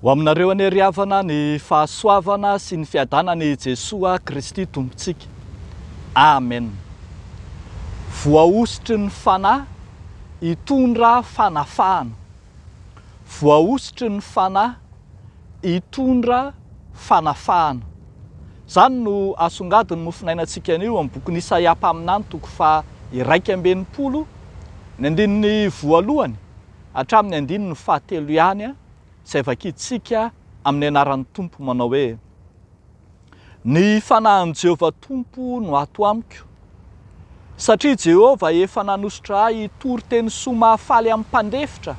Ho aminareo anie ry havana ny fahasoavana sy ny fiadanana i Jesoa Kristy Tompontsika. Amen. Voahosotry ny Fanahy hitondra fanafahana. voahosotry ny Fanahy hitondra fanafahana. Izany no asongadin'ny mofonainantsika anio amin'ny bokin'i Isaia mpaminany toko faha iraika amby enimpolo, ny andininy voalohany hatramin'ny andininy fahatelo ihany izay vakintsika amin'ny anaran'ny Tompo manao hoe. Ny fanahin'i Jehovah Tompo no ato amiko, satria Jehovah efa nanosotra ahy hitory teny soa mahafaly amin'ny mpandefitra.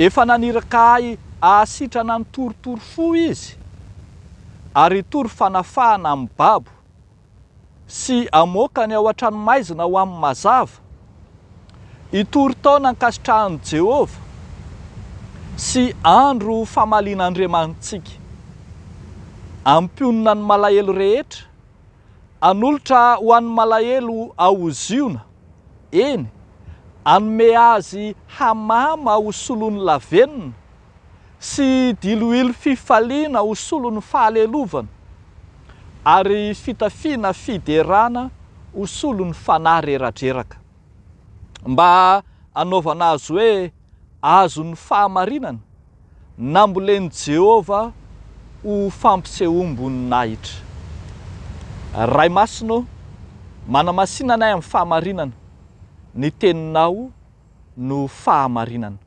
Efa naniraka ahy hahasitrana ny torotoro fo izy, ary hitory fanafahana amin'ny babo. sy hamoaka ny ao an-tranomaizina ho amin'ny mazava, hitory taona ankasitrahan'i Jehovah sy andro famalian'Andriamanitsika. Hampionona ny malahelo rehetra, hanolotra ho an'ny malahelo ao Ziona, eny, hanome azy hamama ho solon'ny lavenona, sy diloilo fifaliana ho solon'ny fahalelovana, ary fitafiana fiderana ho solon'ny fanahy reradreraka. Mba hanaovana azy hoe azon'ny fahamarinana, nambolen'i Jehovah ho fampisehoam-boninahitra. Ray Masina ô, manamasina anay amin'ny fahamarinana, ny Teninao no fahamarinana.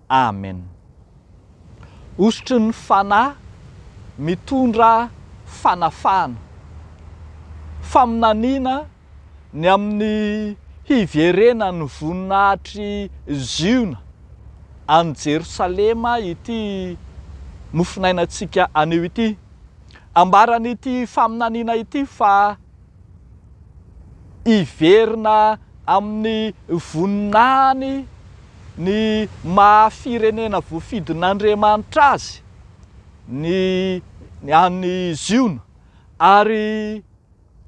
Amen. Hosotry ny Fanahy mitondra fanafahana. Faminaniana ny amin'ny hiverena ny voninahitr'i Ziona any Jerosalema ity mofonainantsika anio ity. Ambaran'ity faminaniana ity fa Hiverina amin'ny voninahiny ny maha firenena voafidin'Andriamanitra azy ny an'i Ziona ary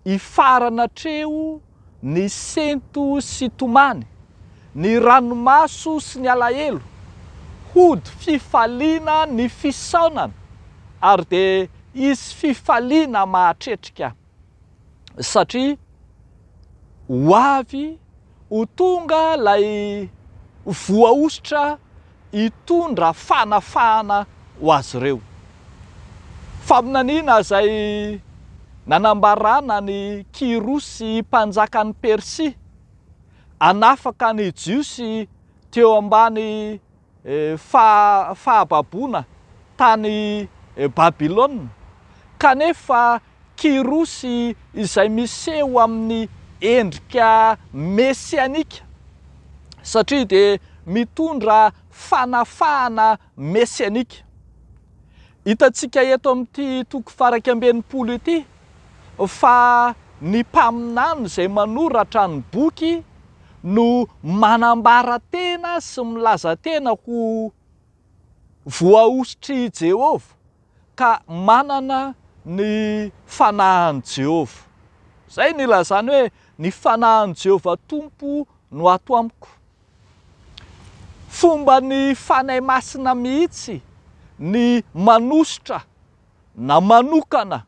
hifarana hatreo ny sento sy tomany, ny ranomaso sy ny alahelo, hody fifaliana ny fisaonana ary dia hisy fifaliana mahatretrika. satria ho avy ho tonga ilay voahosotra hitondra fanafahana ho azy ireo. Faminaniana izay nanambarana an'i Kyrosy mpanjakan'i Persia hanafaka ny Jiosy teo ambany fahababoana tany Babylona, kanefa Kyrosy izay miseho amin'ny endrika mesianika, satria dia mitondra fanafahana mesianika. Hitantsika eto amin'ity toko faha iraika amby enimpolo ity fa ny mpaminany izay manoratra ny boky no manambara tena sy milaza tena ho voahosotr'i Jehovah. ka manana ny fanahin'i Jehovah. Izay no ilazany hoe, Ny fanahin'i Jehovah Tompo no ato amiko. Fomba ny fanahy masina mihitsy ny manosotra na manokana.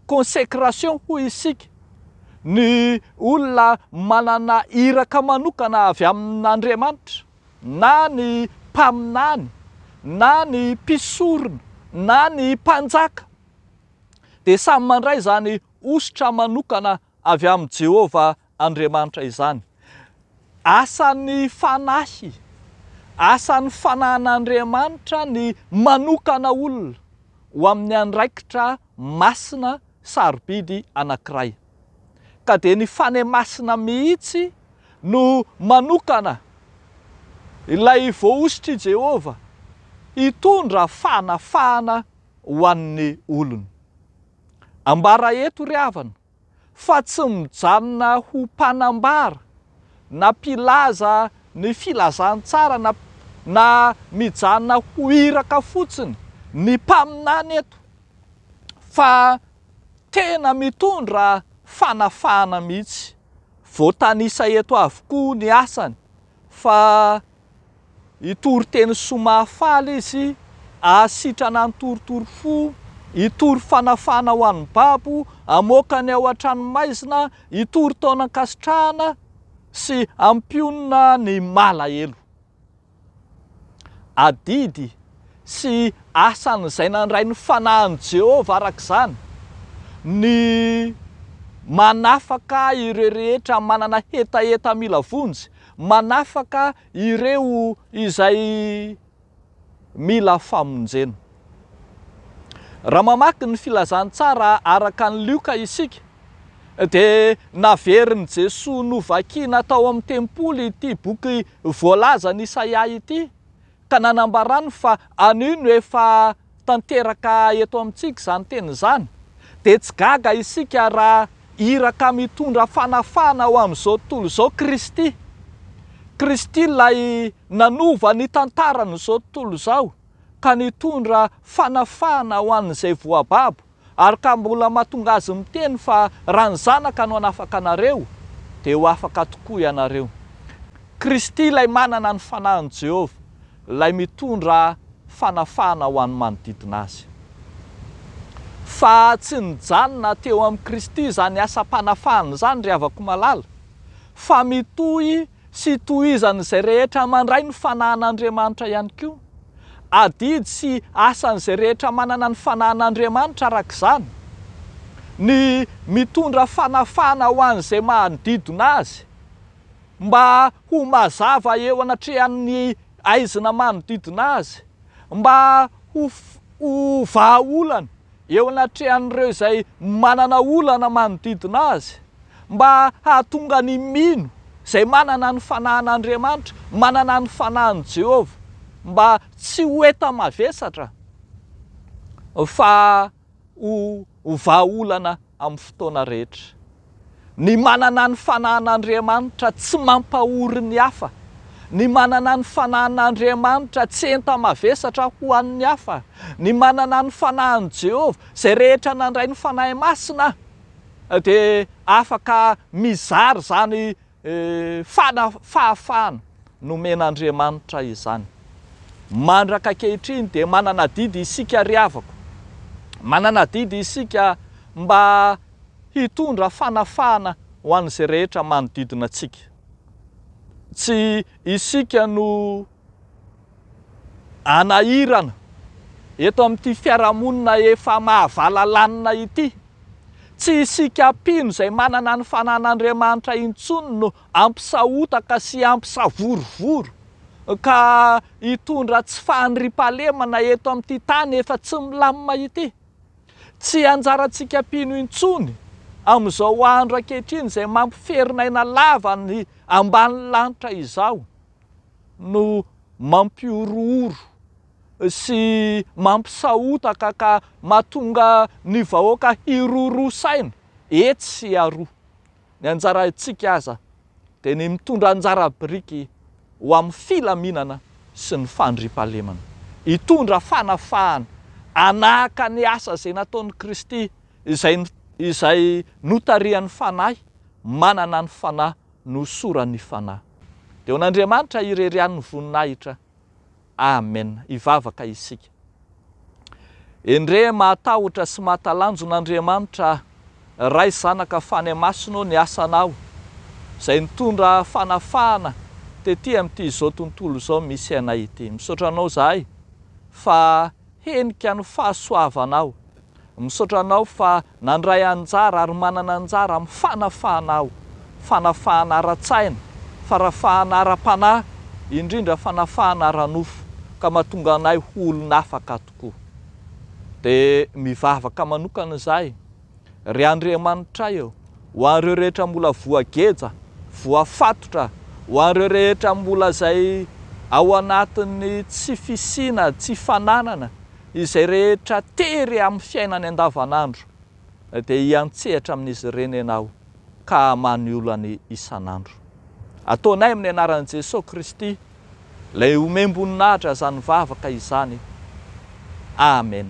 Consécration hoy isika, ny olona manana iraka manokana avy amin'Andriamanitra, na ny mpaminany, na ny mpisorona, na ny mpanjaka, dia samy mandray izany hosotra manokana avy amin'i Jehovah Andriamanitra izany. Asan'ny Fanahy, asan'ny Fanahin'Andriamanitra ny manokana olona ho amin'ny andraikitra masina sarobidy anankiray. Ka dia ny Fanahy Masina mihitsy no manokana ilay voahosotr'i Jehovah hitondra fanafahana ho an'ny olony. Ambara eto ry havana, fa tsy mijanona ho mpanambara na mpilaza ny filazantsara na na mijanona ho iraka fotsiny ny mpaminany eto fa tena mitondra fanafahana mihitsy. Voatanisa eto avokoa ny asany fa. Hitory teny soa mahafaly izy, hahasitrana ny torotoro fo, hitory fanafahana ho an'ny babo, hamoaka ny ao an-tranomaizina, hitory taonan-kasitrahana sy hampionona ny malahelo. Adidy sy asan'izay nandray ny fanahin'i Jehovah araka izany ny manafaka ireo rehetra manana hetaheta mila vonjy Manafaka ireo izay mila famonjena. Raha mamaky ny Filazantsara araka an'i Lioka isika, dia naverin'i Jesoa novakina tao amin'ny tempoly ity boky voalazan'i Isaia ity, Ka nanambarany fa anio no efa tanteraka eto amintsika izany teny izany, dia tsy gaga isika raha iraka mitondra fanafahana ho amin'izao tontolo izao Kristy. Kristy ilay nanova ny tantaran'izao tontolo izao ka nitondra fanafahana ho an'izay voababo. Ary ka mbola mahatonga azy miteny fa raha ny Zanaka no hanafaka anareo, dia ho afaka tokoa ianareo. Kristy ilay manana ny Fanahin'i Jehovah, ilay mitondra fanafahana ho an'ny manodidina azy. Fa tsy nijanona teo amin'i Kristy izany asam-panafahana izany, ry havako malala, fa mitohy Tsy tohizan'izay rehetra mandray ny fanahin'Andriamanitra ihany koa. Adidy sy asan'izay rehetra manana ny fanahin'Andriamanitra araka izany, ny mitondra fanafahana ho an'izay manodidina azy, mba ho mazava eo anatrehan'ny aizina manodidina azy, mba ho ho vahaolana eo anatrehan'ireo izay manana olana manodidina azy, mba hahatonga ny mino izay manana ny fanahin'Andriamanitra, manana ny fanahin'i Jehovah, mba tsy ho enta-mavesatra fa ho vahaolana amin'ny fotoana rehetra. Ny manana ny fanahin'Andriamanitra tsy mampahory ny hafa. Ny manana ny fanahin'Andriamanitra tsy enta-mavesatra ho an'ny hafa. Ny manana ny fanahin'i Jehovah, izay rehetra nandray ny Fanahy Masina dia afaka mizara izany Fana, fahafahana nomen'Andriamanitra izany. Mandraka ankehitriny dia manana adidy isika ry havako. Manana adidy isika mba hitondra fanafahana ho an'izay rehetra manodidina antsika. Tsy isika no. Hanahirana eto amin'ity fiarahamonina efa mahavalalanina ity. Tsy isika mpino izay manana ny fanan'Andriamanitra intsony no hampisahotaka sy hampisavorovoro ka hitondra tsy fahandriampahalemana eto amin'ity tany efa tsy milamina ity. Tsy anjarantsika mpino intsony amin'izao andro ankehitriny izay mampiferin'aina lava ny ambany lanitra izao. no mampihorohoro sy mampisahotaka ka mahatonga ny vahoaka hiroroa saina etsy sy aroa. Ny anjarantsika aza dia ny mitondra anjara biriky ho amin'ny filaminana sy ny fandriampahalemana. Hitondra fanafahana, hanahaka ny asa izay nataon'i Kristy izay izay notarihan'ny Fanahy manana ny Fanahy nohosoran'ny Fanahy. Dia ho an'Andriamanitra irery ihany ny voninahitra. Amen. Hivavaka isika. Endrey mahatahotra sy mahatalanjona Andriamanitra aho. Ray, Zanaka, Fanahy Masina ô ny asanao izay nitondra fanafahana tety amin'ity izao tontolo izao misy anay ity. Misaotra anao izahay fa Henika ny fahasoavanao. Misaotra anao fa nandray anjara ary manana anjara amin'ny fanafahana aho. Fanafahana ara-tsaina, farafahana ara-panahy, indrindra fanafahana ara-nofo ka mahatonga anay ho olon'afaka tokoa. Dia mivavaka manokana izahay. Ry Andriamanitray ô, ho an'ireo rehetra mbola voageja, voafatotra, ho an'ireo rehetra mbola izay ao anatin'ny tsy fisiana, tsy fananana, izay rehetra tery amin'ny fiainany andavanandro, dia hiantsehatra amin'izy ireny Ianao ka hamaha ny olany isan'andro. Ataonay amin'ny anaran'i Jesoa Kristy, ilay omem-boninahitra izany vavaka izany. Amen.